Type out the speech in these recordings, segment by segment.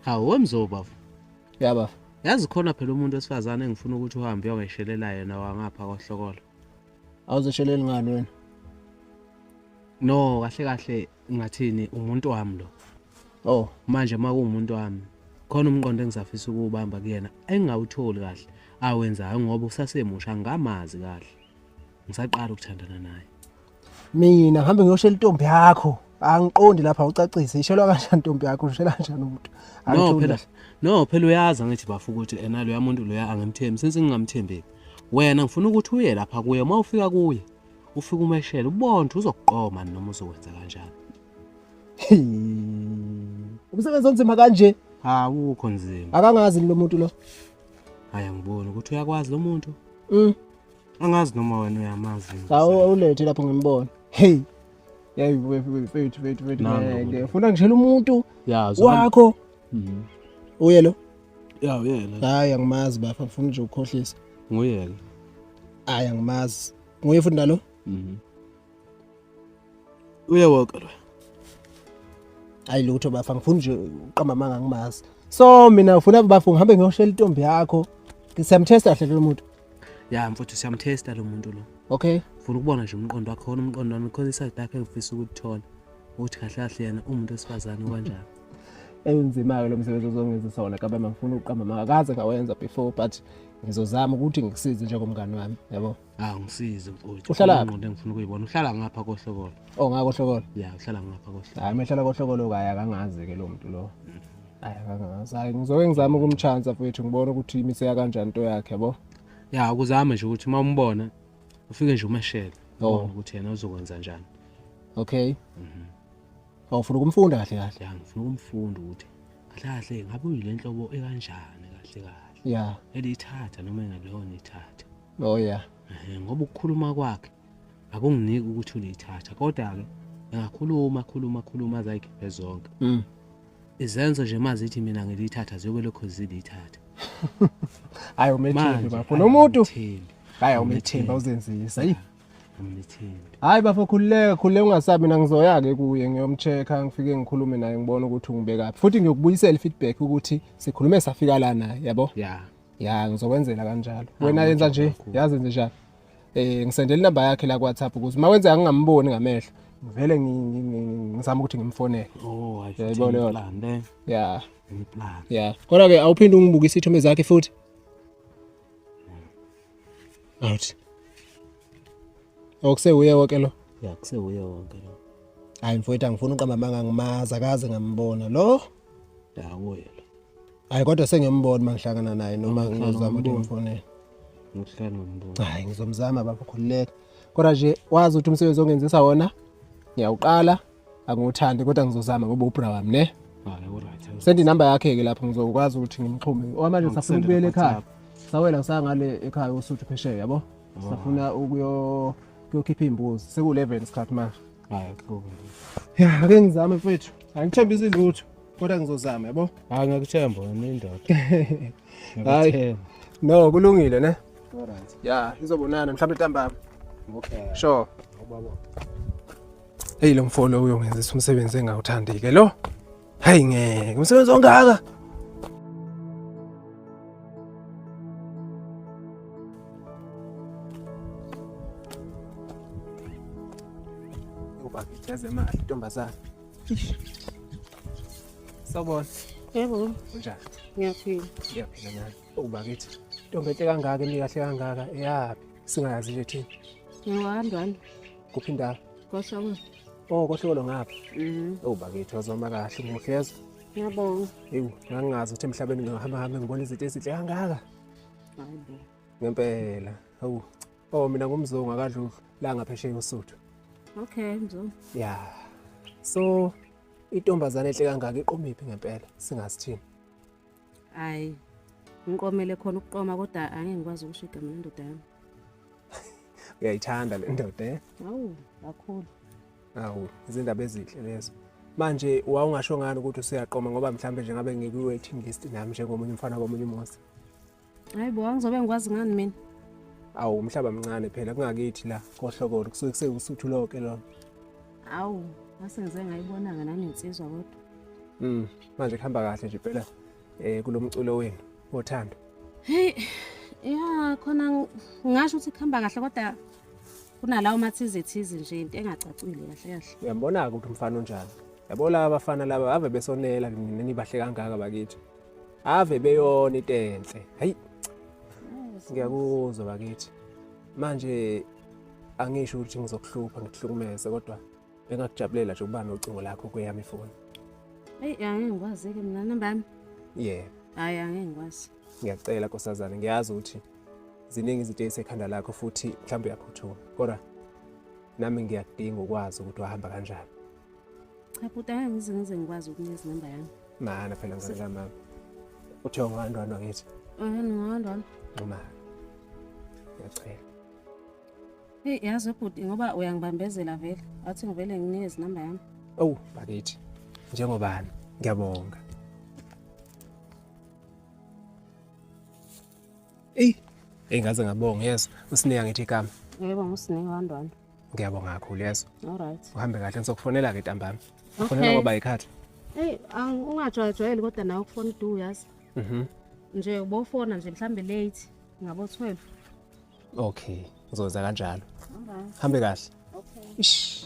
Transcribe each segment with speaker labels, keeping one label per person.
Speaker 1: hawu wemzo bafo ya bafo
Speaker 2: yazi khona phela
Speaker 1: umuntu wesifazane engifuna ukuthi uhambe uyongeshelela yena wangapha kohlokola awuzesheleli
Speaker 2: ngani wena no
Speaker 1: kahle kahle ngathini umuntu wami lo oh
Speaker 2: manje uma kuwumuntu
Speaker 1: wami khona umqondo engisafisa ukuwubamba kuyena engingawutholi kahle awenzayo ngoba usasemusha ngamazi kahle ngisaqala ukuthandana naye mina
Speaker 2: ngihambe ngiyoshela intombi yakho angiqondi lapha ucacise ishelwa kanjani intombi yakho ushela kanjani umuntu no phela
Speaker 1: no phela uyazi angithi bafu ukuthi ena loya muntu loya angimthembi since ngingamthembeki wena ngifuna ukuthi uye lapha kuye uma ufika kuye ufika umeshele ubone ukuthi uzokuqoma noma uzokwenza kanjani
Speaker 2: umsebenzi onzima kanje awukho
Speaker 1: nzima akangazi lo muntu lo
Speaker 2: hayi
Speaker 1: angiboni ukuthi uyakwazi lo muntu mm. angazi noma wena uyamazi awulethe lapho
Speaker 2: ngimbona hey yayi wethu wethu wethu wethu ngeke funa ngishela umuntu wakho mhm. uye lo ya uyena
Speaker 1: hayi angimazi bafo
Speaker 2: ngifuna nje ukukhohlisa nguyena
Speaker 1: hayi
Speaker 2: angimazi nguye futhi nalo mhm.
Speaker 1: uyawoka lo
Speaker 2: hayi lutho bafa ngifuna nje uqamba amanga ngimazi so mina ufuna bafa ngihambe ngiyoshela intombi yakho siyamthesta kahle lo muntu ya mfuthu
Speaker 1: siyamthesta lo muntu lo okay ngifuna ukubona
Speaker 2: nje umqondo
Speaker 1: wakho khona umqondo wami khona iside lakho engifisa ukuthola ukuthi kahle kahle yena umuntu wesifazane kanjani enzima-ke
Speaker 2: lo msebenzi ozongenzisa wona kaba mangifuna ukuqamba makaze ngawenza before but ngizozama ukuthi ngikusize njengomngani wami yabo Ah ngisize
Speaker 1: mfowethu. Uhlala ngqondo engifuna ukuyibona.
Speaker 2: Uhlala
Speaker 1: ngapha kohlokolo. Oh ngakho hlokolo.
Speaker 2: Yeah, uhlala ngapha
Speaker 1: kohlokolo. Hayi mehlala kohlokolo kaya
Speaker 2: kangazi ke lo muntu lo. Hayi kangazi. Hayi ngizoke ngizama ukumchansa mfowethu ngibone ukuthi imiseka kanjani into yakhe yabo. Yeah, ukuzama
Speaker 1: nje ukuthi uma umbona ufike nje umeshele. Oh. Ukuthi yena uzokwenza njani. Okay.
Speaker 2: Mhm. Oh, ufuna ukumfunda kahle kahle. Yeah, ngifuna ukumfunda
Speaker 1: ukuthi kahle kahle ngabe uyilenhlobo ekanjani kahle kahle. Yeah.
Speaker 2: Elithatha noma
Speaker 1: engalona ithatha. Oh yeah.
Speaker 2: Eh ngoba ukukhuluma
Speaker 1: kwakhe akunginiki ukuthi ulithatha kodwa ke ngakhuluma khuluma khuluma azayikhiphe zonke. Mm. Izenzo nje mazithi mina ngilithatha ziyobe lokho zilithatha.
Speaker 2: Hayi umethembi bafo nomuntu. Hayi umethembi uzenzisa. Hayi. Umethembi.
Speaker 1: Hayi bafo
Speaker 2: khululeka khululeka ungasabi mina ngizoya ke kuye ngiyomcheka ngifike ngikhulume naye ngibone ukuthi ungibekaphi. Futhi ngiyokubuyisela feedback ukuthi sikhulume safika la naye yabo? Yeah. ya ngizokwenzela kanjalo ah, wena yenza nje yazi nje njalo eh ngisendela inamba yakhe la kwaThapha ukuthi uma wenzeka ngingamboni ngamehlo ngivele ngizama ukuthi ngimfonele oh ayibona
Speaker 1: leyo plan eh? yeah
Speaker 2: plan yeah
Speaker 1: kodwa ke
Speaker 2: awuphinde ungibukise ithome zakhe futhi out okuse uye wonke lo yeah kuse uye wonke
Speaker 1: lo hayi mfowethu angifuni
Speaker 2: uqamba amanga ngimazi akaze ngambona lo dawo
Speaker 1: yena hayi kodwa
Speaker 2: sengiyambona uma ngihlangana naye noma ngizama ukuthi ngifonele
Speaker 1: hayi ngizomzama baba
Speaker 2: khululeka kodwa nje wazi ukuthi umsebenzi ongenzisa wona ngiyawuqala angiwuthandi kodwa ngizozama ngoba ubra wami ne
Speaker 1: sendi number yakhe-ke lapho
Speaker 2: ngizokwazi ukuthi ngimxhume okwamanje safuna ukubuyela ekhaya sawela ngisangale ekhaya usuthu phesheya yabo safuna ukuyokhipha iy'mbuzi seku-eleven isikhathi manje
Speaker 1: ya ake
Speaker 2: ngizame mfethu angithembisi lutho kodwa ngizozama yabo hayi ngiyakuthemba wena
Speaker 1: indoda hayi
Speaker 2: no kulungile ne alright
Speaker 1: ya izobonana
Speaker 2: mhlawumbe ntambama okay sure ubaba hey lo mfolo uyongenzisa umsebenzi engawuthandi ke lo hayi ngeke umsebenzi ongaka ubakithaze imali ntombazana Sawubona. Yebo.
Speaker 3: Unjani?
Speaker 2: Ngiyaphila.
Speaker 3: Ngiyaphila
Speaker 2: nami. Ubakithi. Ntombi enhle kangaka emi kahle kangaka eyaphi? Singayazi nje thina. Ngiwandwana.
Speaker 3: Kuphi indawo?
Speaker 2: Koshoko.
Speaker 3: Oh, koshoko
Speaker 2: ngapha. Mhm. Oh, bakithi wazoma kahle umuhle yezwa. Ngiyabonga.
Speaker 3: Ewu, ngangazi
Speaker 2: ukuthi emhlabeni ngihamba hambe ngibona izinto ezinhle kangaka. Hayibo.
Speaker 3: Ngempela.
Speaker 2: Hawu. Oh mina ngumzungu akadlulu la ngaphesheya uSuthu. Okay
Speaker 3: mzungu. Yeah.
Speaker 2: So intombazane enhle kangaka iqomiphi ngempela singasithini?
Speaker 3: Hayi. Ngiqomele khona ukuqoma kodwa angeke ngikwazi ukusho igama lendoda yami. Uyayithanda
Speaker 2: le ndoda eh? Awu, kakhulu.
Speaker 3: Awu,
Speaker 2: izindaba ezinhle lezo. Manje wawungasho ngani ukuthi usuyaqoma ngoba mhlambe nje ngabe ngikuwe team list nami njengomunye umfana komunye umuzi. hayi bo
Speaker 3: angizobe ngikwazi ngani mina awu umhlaba
Speaker 2: mncane phela kungakithi la kohlokolo kusuke kusewusuthu loke lona
Speaker 3: awu ngase
Speaker 2: ngize
Speaker 3: ngayibonanga nami insizwa
Speaker 2: kodwa
Speaker 3: mm
Speaker 2: manje kuhamba kahle nje phela eh kulomculo wenu wothando
Speaker 3: hey ya khona ngasho ukuthi kuhamba kahle kodwa kunalawo mathize thize nje into engacacile kahle kahle uyambona-ke ukuthi umfana
Speaker 2: onjani yabo laba bafana laba ave besonela nina nibahle kangaka bakithi ave beyona into enhle hayi ngiyakuzwa bakithi manje angisho ukuthi ngizokuhlupha ngikuhlukumeze kodwa bengakujabulela nje ukuba nocingo lakho kweyami ifoni eyi
Speaker 3: angeke ngikwazi-ke mina namba yami yeah hhayi
Speaker 2: angeke
Speaker 3: ngikwazi ngiyacela nkosazane
Speaker 2: ngiyazi ukuthi ziningi izinto ezisekhanda lakho futhi mhlawumbe uyaphuthuma kodwa nami ngiyakudinga ukwazi ukuthi wahamba kanjani Cha
Speaker 3: bhuti angeke ngize ngize ngikwazi ukunika izinamba yami. Mana phela ngane ka
Speaker 2: mama. Uthe ungahamba wena ngithi. Eh ngihamba wena.
Speaker 3: Nxuma.
Speaker 2: Ngiyacela.
Speaker 3: Hey yazi bhuti ngoba uyangibambezela vele. Athi ngivele nginike izinamba yami. Awu oh, bakithi.
Speaker 2: Njengobani? Ngiyabonga. Ey, engaze ngabonga yes. Usinika ngithi igama. Yebo ngusinika
Speaker 3: wandwana. ngiyabonga kakhulu
Speaker 2: yeso alright uhambe kahle
Speaker 3: ngizokufonela
Speaker 2: ke ntambama okay. fonela ngoba yikhathi hey
Speaker 3: ungajwayejwayeli kodwa nawe ukufona udu yazi mhm nje ubofona nje mhlambe late ngabo 12 okay
Speaker 2: ngizoza kanjalo alright hambe
Speaker 3: kahle
Speaker 2: okay Ish.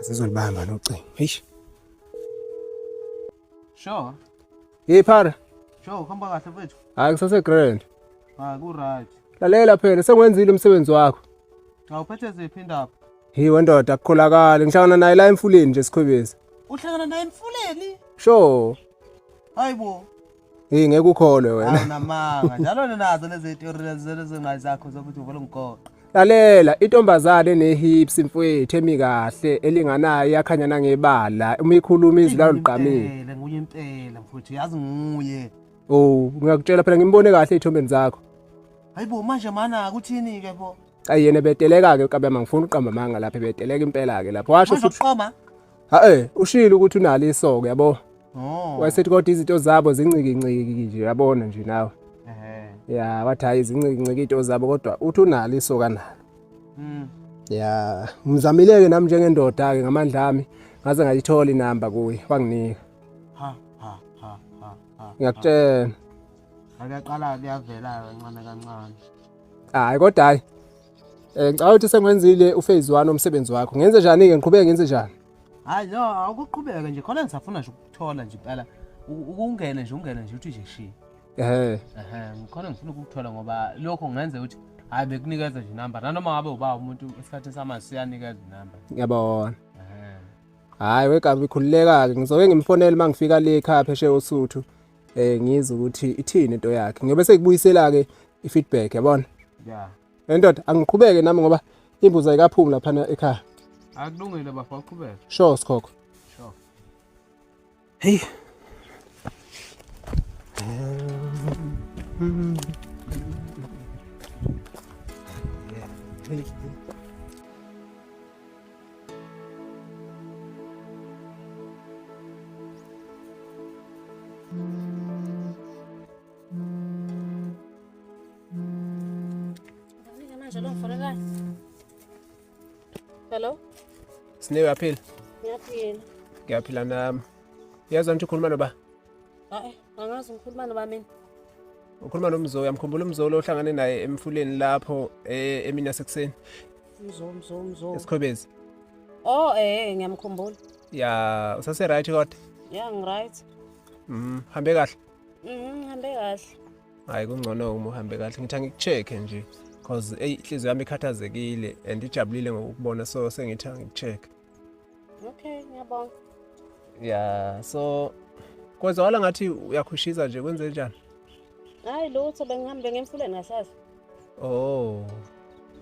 Speaker 2: Asizolibamba nocingo. Eish.
Speaker 1: Sure. Hey phara.
Speaker 2: Sure, khamba
Speaker 1: kahle mfethu. Hayi kusase grand.
Speaker 2: Ah, ku
Speaker 1: right. Lalela phela
Speaker 2: sengwenzile umsebenzi wakho. Cha uphethe
Speaker 1: ziphi indaba? Hi wendoda
Speaker 2: akukholakali ngihlangana naye la emfuleni nje sikhwebezi. Uhlangana naye
Speaker 1: emfuleni? Sure.
Speaker 2: Hayibo.
Speaker 1: Hey ngeke
Speaker 2: ukholwe wena. Awunamanga. Njalo
Speaker 1: ninazo lezi theory lezi zingayi zakho zokuthi uvela umgoqo. Lalela
Speaker 2: intombazane nehips mfwethu emi kahle elinganayo yakhanya nangebala uma ikhuluma izwi layo liqamile. Nguye impela
Speaker 1: mfwethu yazi nguye. Oh
Speaker 2: ngiyakutshela phela ngimbone kahle ezithombeni zakho. Hayibo manje
Speaker 1: mana kuthini ke bo? Ayi yena beteleka
Speaker 2: ke kabema ngifuna uqamba amanga lapha beteleka impela ke lapho washo futhi. Uqoma?
Speaker 1: Hae, ushilo
Speaker 2: ukuthi unalo isoka yabo. Oh. Wayesethi
Speaker 1: kodwa izinto
Speaker 2: zabo zincikinciki nje yabona nje nawe. Ehhe. Ya, wathi hayi zincikinciki izinto zabo kodwa uthi unalo isoka nalo. Mm. Ya, ngizamileke nami njengendoda ke ngamandla ami ngaze ngayithola inamba kuye wanginika. Ha ha ha ha.
Speaker 1: ha.
Speaker 2: Ngiyakutshela. Akaqala
Speaker 1: kuyavela kancane kancane. Hayi
Speaker 2: kodwa hayi Eh ngicabanga ukuthi sengwenzile uphase 1 omsebenzi wakho. Ngenze njani ke ngiqhubeke ngenze njani? Hayi no
Speaker 1: awukuqhubeka nje khona ngisafuna nje ukuthola nje impela ukungena nje ungena nje uthi nje shi. Ehhe. Ehhe ngikhona ngifuna ukukuthola ngoba lokho ngenze ukuthi hayi bekunikeza nje number nanoma ngabe uba umuntu esikhathini samazi siyanikeza inumber. Ngiyabona.
Speaker 2: Ehhe. Hayi wegabi khululeka-ke ngizoke ngimfonele uma ngifika le ekhaya phesheya oSuthu. eh ngizwe ukuthi ithini into yakhe ngiyobe sekubuyisela ke ifeedback yabona yeah
Speaker 1: endoda angiqhubeke
Speaker 2: nami ngoba imbuza ikaphumi lapha ekhaya akulungile
Speaker 1: bafo uqhubeke sure sikhokho sure
Speaker 2: hey Mm-hmm. Thank you.
Speaker 3: Hello? Sine
Speaker 2: uyaphila?
Speaker 3: Ngiyaphila.
Speaker 2: Ngiyaphila nami. Uyazwa nje ukhuluma noba? Hayi,
Speaker 3: angazi ngikhuluma noba mina. Ukhuluma
Speaker 2: nomzo, uyamkhumbula umzo lo ohlangane naye emfuleni lapho eh, emini yasekuseni. Mzo mzo
Speaker 3: mzo. Esikhobezi.
Speaker 2: Oh eh ngiyamkhumbula.
Speaker 3: Ya usase
Speaker 2: right kodwa. Ya ngi right.
Speaker 3: Mhm hambe
Speaker 2: kahle. Mhm hambe
Speaker 3: kahle. Hayi kungcono
Speaker 2: uma uhambe kahle ngithi angikucheck nje because ey inhliziyo yami ikhathazekile and ijabulile ngokubona so sengithi angikucheck. okay
Speaker 3: ngiyabonga
Speaker 2: yeah so kwezwakala ngathi uyakhushiza nje kwenze njani hayi
Speaker 3: lutho bengihambe ngemfuleni ngasazi oh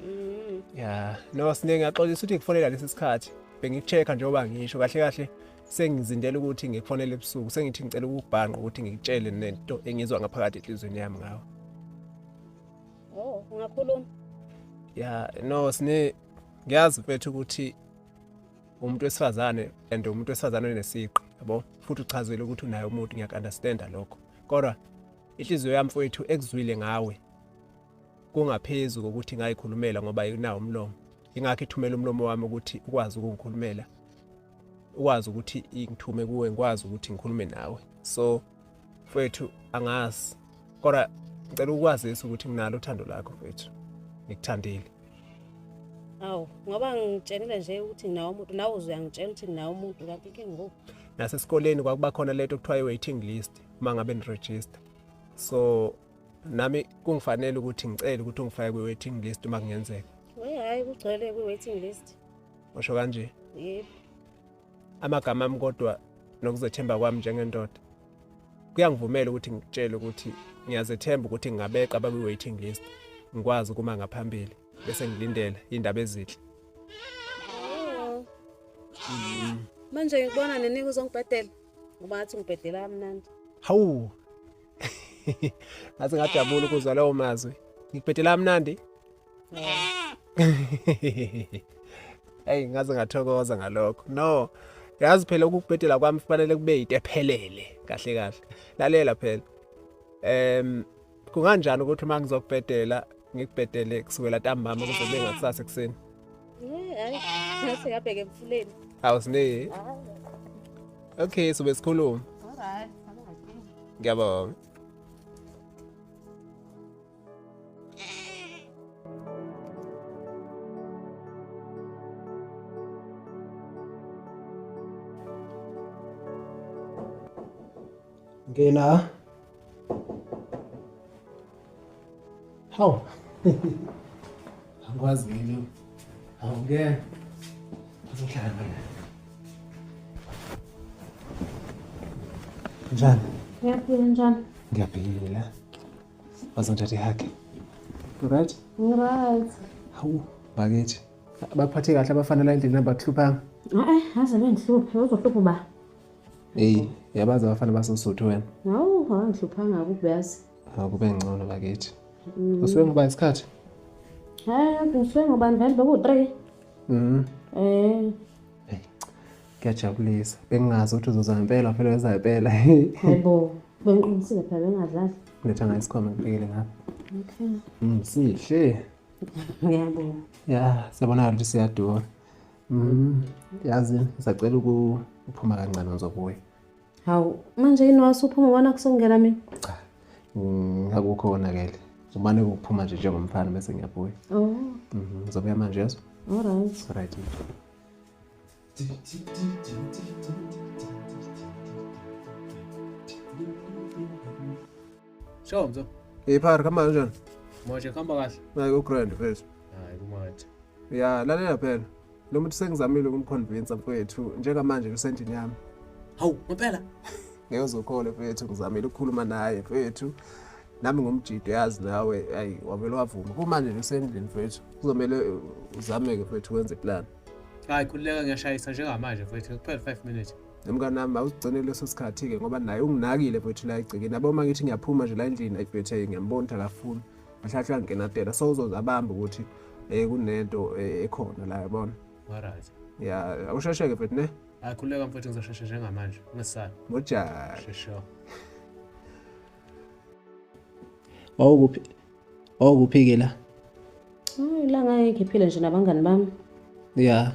Speaker 2: mm. ya no sine ngiyaxolisa ukuthi ngikufonela lesi sikhathi bengiku-check-a njengoba ngisho kahle kahle sengizindela ukuthi ngikufonele ebusuku sengithi ngicela ukubhanqa ukuthi ngikutshele nento engizwa ngaphakathi enhlizweni yami ngawo
Speaker 3: oh ungakhuluma ya
Speaker 2: no sine ngiyazi mfethu ukuthi umuntu wesifazane and umuntu wesifazane onesiqi yabo futhi uchazile ukuthi unaye umuntu ngiyakunderstanda lokho kodwa inhliziyo yami mfowethu ekuzwile ngawe kungaphezu kokuthi ngayikhulumela ngoba inawo umlomo ingakho ithumela umlomo wami ukuthi ukwazi ukungikhulumela ukwazi ukuthi ingithume kuwe ngikwazi ukuthi ngikhulume nawe so mfethu angazi kodwa ngicela ukwazisa ukuthi nginalo uthando lakho mfethu ngikuthandile
Speaker 3: awu ngoba ngitshenile nje ukuthi nginawo umuntu nawe uze uyangitshela ukuthi nginawo umuntu kanti inkinga ngoku nasesikoleni kwakuba
Speaker 2: khona lento okuthiwa i-waiting list uma ngabe niregister so nami kungifanele ukuthi ngicele ukuthi ungifake kwi-waiting list uma kungenzeka we hhayi kugcwele
Speaker 3: kwi-waiting list washo kanje
Speaker 2: yebo amagama ami kodwa nokuzethemba kwami njengendoda kuyangivumela ukuthi ngikutshele ukuthi ngiyazethemba ukuthi ngingabeqa abakwi-waiting list ngikwazi ukuma ngaphambili bese ngilindela iy'ndaba ezinhle
Speaker 3: mm. manje ngikubona nenika uzongibhedela ngoba ngathi ngibhedela kamnandi hawu
Speaker 2: ngathi ngajabula ukuzwa lawo mazwi ngikubhedela kamnandi eyi ngaze ngathokoza ngalokho no yazi phela ukukubhedela kwami kufanele kube yinto ephelele kahle kahle lalela phela um kunganjani ukuthi uma ngizokubhedela ngikubhedele kusukela ntambama kuze kube ngakusasa ekuseni
Speaker 3: awusineki
Speaker 2: okay sobe sikhuluma ngiyabonga Ngena. Hawu. Angikwazi mina. Hawu ngeke. Uzohlala mina. Njani? Ngiyaphila njani?
Speaker 3: Ngiyaphila.
Speaker 2: bazongithatha ihage right right
Speaker 3: hawu
Speaker 2: bakithi baphathe kahle abafana la endlini abakuhluphanga e-e aze
Speaker 3: bengihluphe uzohlupha uba eyi
Speaker 2: yabazi abafana basosuthu wena hawu awangihluphanga
Speaker 3: akubeyazi hawu kube ngcono
Speaker 2: bakithi mm. usuke ngoba isikhathi hayi
Speaker 3: ngisuke ngobani vele bekuwu-three
Speaker 2: um mm. eh. kuyajabulisa bengingazi ukuthi uzoza ngempela phela weza ngempela hayibo
Speaker 3: Bengiqinisile phela bengazazi. Letha ngayo isikhwama
Speaker 2: ngibhekele ngapha. Okay. Mm,
Speaker 3: sihle.
Speaker 2: Ngiyabonga.
Speaker 3: Ya,
Speaker 2: siyabona ukuthi siyadura. Mm, yazi ngisacela ukuphuma kancane ngizobuya. Hawu,
Speaker 3: manje yini wasuphuma ubona kusongela mina? Cha.
Speaker 2: Ngakukho konakele. Umane ukuphuma nje njengomfana bese ngiyabuya. Oh. Mhm,
Speaker 3: ngizobuya manje
Speaker 2: yeso. All right. All
Speaker 3: right.
Speaker 1: Sho mzo. Hey phara kama
Speaker 2: kanjani? Manje khamba
Speaker 1: kahle. Hayi ku grand first.
Speaker 2: Hayi
Speaker 1: kumanje. Ya lalela
Speaker 2: phela. Lo muntu sengizamile ukumconvince mfowethu njengamanje kusendini yami. Hawu ngempela.
Speaker 1: Ngeke uzokhole
Speaker 2: mfowethu ngizamile ukukhuluma naye mfowethu. Nami ngumjidi yazi nawe ayi wavele wavuma. Kumanje kusendini mfowethu. Kuzomele uzameke mfowethu wenze plan. hayi khululeka
Speaker 1: ngiyashayisa njengamanje mfethu ngikuphele five minutes nomngane wami awusigcine
Speaker 2: leso sikhathi-ke ngoba naye unginakile mfethu la egcekeni yabo uma ngithi ngiyaphuma nje la endlini ayifethe ngiyambona ukuthi akafuni ahlahle angenatela so uzoze abambe ukuthi um kunento eh, ekhona la yabona
Speaker 1: right ya awusheshe-ke
Speaker 2: mfethu ne hayi khululeka mfethu
Speaker 1: ngizoshesha njengamanje ungesali mojani shesho
Speaker 2: wawukuphi Oh kuphi-ke la? Hayi
Speaker 3: la ngake ngiphile nje nabangani bami. Yeah.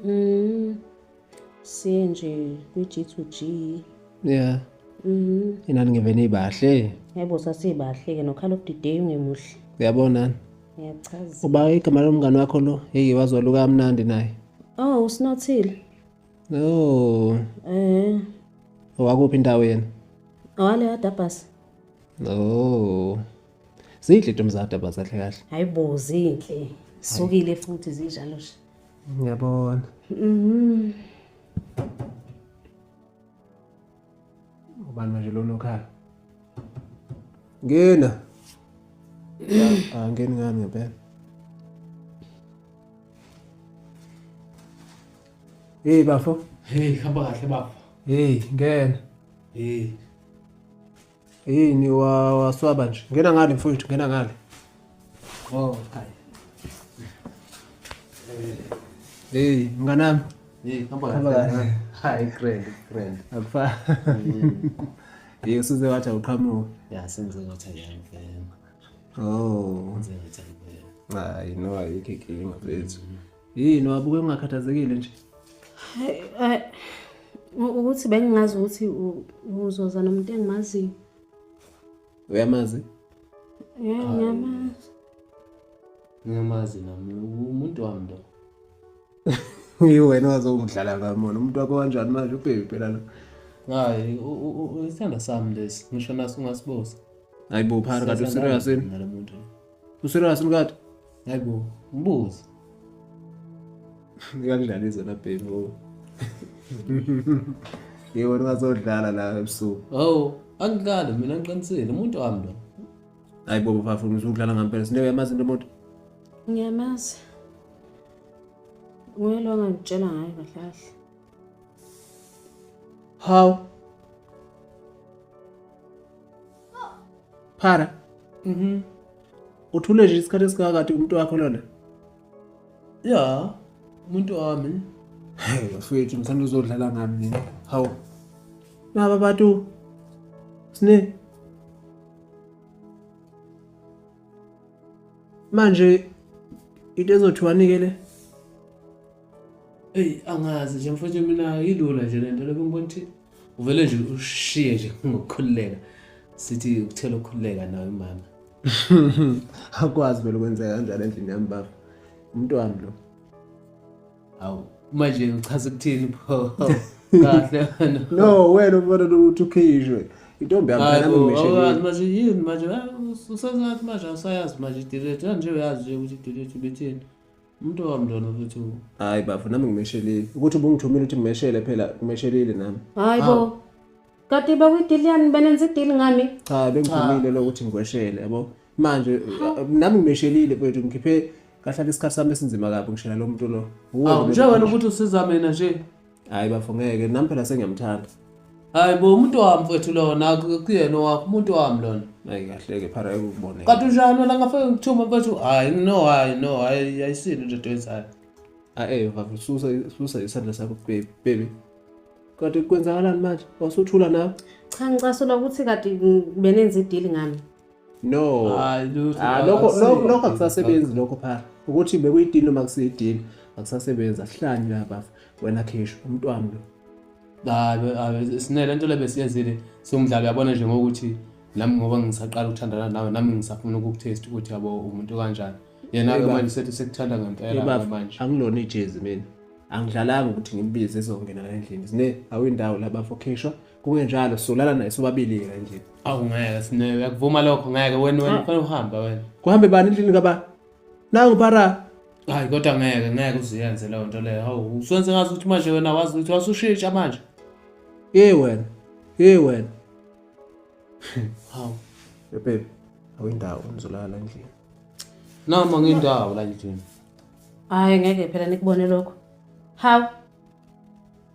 Speaker 2: Mm.
Speaker 3: Siye nje kwi-G2G. Yeah. Mhm.
Speaker 2: Inani ngivene ibahle. Yebo sasibahle
Speaker 3: ke no Call of the Day ungemuhle. Uyabona?
Speaker 2: Ngiyachaza.
Speaker 3: Uba igama lomngani
Speaker 2: wakho lo, hey wazwaluka kamnandi naye. Oh, usinothile.
Speaker 3: No.
Speaker 2: Eh. Owakuphi indawo yena? Owale
Speaker 3: kaDabhasi. Oh.
Speaker 2: Zinhle ntombi zakho daba zahle kahle. Hayibo zinhle.
Speaker 3: Sukile futhi zinjalo nje. Ngiyabona.
Speaker 2: Mhm. Ubani manje lona okhala? Ngena. Ah, ngeni ngani ngempela. Hey bafo. Hey hamba kahle
Speaker 1: bafo. Hey ngena.
Speaker 2: Hey. Hey ni wa waswaba nje. Ngena ngale mfowethu, ngena ngale. Oh,
Speaker 1: kai.
Speaker 2: Hey, mnganami. Hey, hamba
Speaker 1: kahle.
Speaker 2: Hi,
Speaker 1: grand, grand. Akufa.
Speaker 2: Mm. Hey, usuze wathi awuqhamuka. Yeah, senze ngathi
Speaker 1: ayangena. Oh.
Speaker 2: Senze
Speaker 1: ngathi ayangena. Hayi, no
Speaker 2: ayikho inkinga mfethu. Mm. Yini wabuke ungakhathazekile nje? Eh,
Speaker 3: ukuthi bengingazi ukuthi uzoza nomuntu engimaziyo.
Speaker 2: Uyamazi?
Speaker 3: Yeah,
Speaker 1: ngiyamazi. Ngiyamazi nami umuntu wami lo.
Speaker 2: Iwena wazongidlala ngamona umuntu wakho kanjani manje ubhebi phela lo. Hayi,
Speaker 1: isithanda sami lesi. Ngisho naso ungasibuza. Hayibo phara
Speaker 2: kade userious yini?
Speaker 1: Userious
Speaker 2: mkade? Hayibo,
Speaker 1: mbuzi.
Speaker 2: Ngiyakudlala izona bheki ngoba. Yebo ungazodlala la ebusuku. Oh, angikali
Speaker 1: mina ngiqinisile umuntu wami lo. Hayibo
Speaker 2: bafafu ngisuke udlala ngampela. Sindebe yamazi into umuntu. Ngiyamazi.
Speaker 3: Nguye lo ngangitshela ngayo kahle kahle.
Speaker 2: Haw. Phara. Mhm. Uthule nje isikhathi esingakade umuntu wakho lona.
Speaker 1: Ya, umuntu wami. Hey, bafethu
Speaker 2: ngithanda uzodlala ngami mina. Haw. Naba bantu. Sine. Manje into ezothiwanike le.
Speaker 1: eyi angazi nje mfowethu mina yilula nje le nto lobe ngibona ukuthi uvele nje ushiye nje ngokukhululeka sithi ukuthela ukukhululeka nawe mama
Speaker 2: akwazi vele ukwenzeka kanjalo endlini yami baba umntwana lo
Speaker 1: hawu manje uchaza ukuthini pho kahle wena no wena ubona
Speaker 2: ukuthi ukhishwe intombi yami phela ngimishekile manje yini manje
Speaker 1: usazathi manje awusayazi manje idilethe kanje uyazi nje ukuthi idilethe ubethini umuntu okamntwana ukuthi hayi bafo nami
Speaker 2: ngimeshelile ukuthi ubungithumile ukuthi ngimeshele phela ngimeshelile nami hayi bo
Speaker 3: kade bakwidili yani benenza idili ngami cha bengithumile
Speaker 2: lokuthi ngikweshele yabo manje nami ngimeshelile kwethu ngikhiphe kahlala isikhathi sami esinzima kabi ngishela lo muntu lo njengoba ukuthi
Speaker 1: usiza mina nje hayi bafo ngeke
Speaker 2: nami phela sengiyamthanda hayi bo
Speaker 1: umuntu wami mfethu lona kuyena wakho umuntu wami lona hayi kahleke phara
Speaker 2: ekuboneke kanti unjani wena ngafake
Speaker 1: ngithuma mfethu hayi no hayi no hayi ayisini into etoyenzayo ae bafo
Speaker 2: susa susa isandla sakho baby baby kade kwenzakalani manje wasuthula nawe cha ngicasula
Speaker 3: ukuthi kade benenza idili ngami no
Speaker 2: ah,
Speaker 1: ah, lokho
Speaker 2: akusasebenzi lokho phaa ukuthi bekuyidini noma kusiyidini akusasebenzi asihlanye labafa wena khisho umntwana lo
Speaker 1: sinele nto le besiyenzile siwumdlalo yabona nje ngokuthi nami ngoba ngisaqala ukuthandana nawe nami ngisafuna ukukutest ukuthi yabo umuntu kanjani yena-ke manje sethi sekuthanda ngempela manje angilona ijezi mina
Speaker 2: angidlalanga ukuthi ngimbize ezongena la endlini zine awuyindawo labafokhishwa kungenjalo solala naye sobabili-ke nje awu ngeke sine
Speaker 1: uyakuvuma lokho ngeke wena wena Ah. kufanele uhamba wena kuhambe bani endlini kaba
Speaker 2: nangu para hayi kodwa ngeke
Speaker 1: ngeke uziyenze leyo nto leyo hawu uswenze ngazi ukuthi manje wena wazi ukuthi wasushintsha manje ye wena
Speaker 2: ye wena
Speaker 1: hawu bebe
Speaker 2: awindawo ngizolala la endlini noma
Speaker 1: ngindawo la endlini hayi
Speaker 3: ngeke phela nikubone lokho hawu